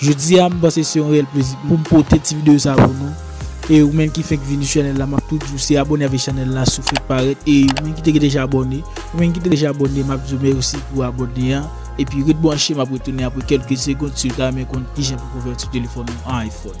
Jodi a m panse se yon reyèl plezi pou m pote ti videyo sa pou nou e ou menm ki fenk vini sou chanèl la map tou di w se abone avèk chanèl la si w fenk parèt e ou menm ki te deja abone ou menm ki te deja abone map di w mèsi pou abone an epi ret branche map retounen apre kelke segond si w ta renmen konn kijan pou konvèti telefòn ou an iPhone.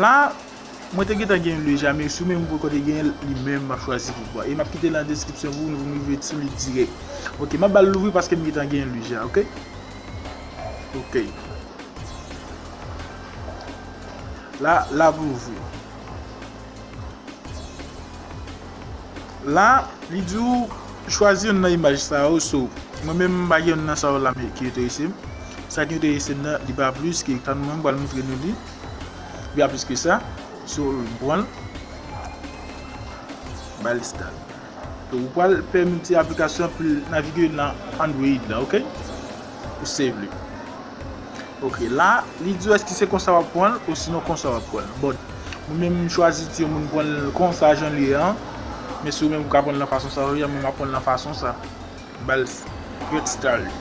La, mwen te gentan gen Le Jamerciou men mwen poko te gen li menm map chwazi poukwa e map kite l an deskripsyon pou nou pou nou rive sou li dirèk ok map bal louvri paske m gentan gen li ja ok ok la lap louvri. La, li di ou chwazi youn nan imaj sa yo, so mwen menm m pa gen youn nan sa yo la m ki enterese m. Sa ki enterese m nan, li pa plis ke tann mwen m pral montre nou li. Li pa plis ke sa. So m pran l. M ba l install. So ou pral pèmèt aplikasyon pou l navige nan Android la, ok. Ou save li. Ok la li diw eske se konsa wap pranl osinon konsa wap pranl but mwen menm m chwazi di moun pranl konsa janl ye an men si ou menm ou ka pranl nan fason sa ou ye an mwen map pranl nan fason sa m bal straight style li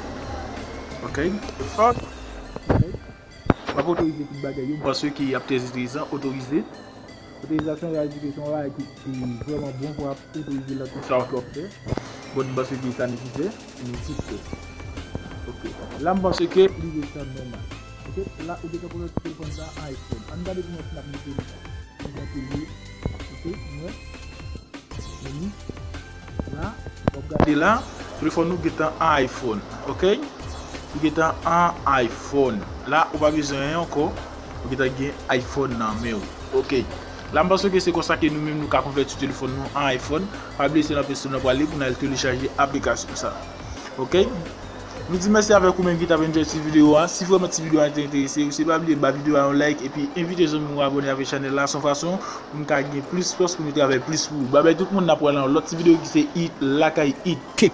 ok ok map otorize tout bagay yo m panse ke yap trè etrezan otorize. Otorizasyon Rad Edike se yon bagay ki vrèman bon pou ap otorize lòt moun. Sa w twò fè. Bon, m panse ke sa nesesè. Ni ti fè. Ok. La m panse ke li dwe tan nòmal. Ok. La ou gentan konnen telefòn sa a iPhone. An n gade kouman si n ap mete li. Ki jan ke l ye. Ok. Nou wè? Meni. la wap gade la li fò nou gentan an iphone ok nou gentan an iphone la ou pa bezwen anyen ankò ou gentan gen iphone nan menw ok la m panse ke se konsa ke nou menm nou ka konvèti telefòn nou an iphone pa bliye se nan play store nou pral li pou nou al telechaje aplikasyon sa ok. Nou di mèsi avèk ou menm ki tap enjoy ti video a, si vrèman ti video a te enterese ou se pa bliye ba video a yon like epi envite zanmi ou abone avèk chanèl la son fason pou nou ka gen plis fòs pou nou travay plis pou ou babay tout moun na pwal nan yon lòt ti video ki se i lakay it kick.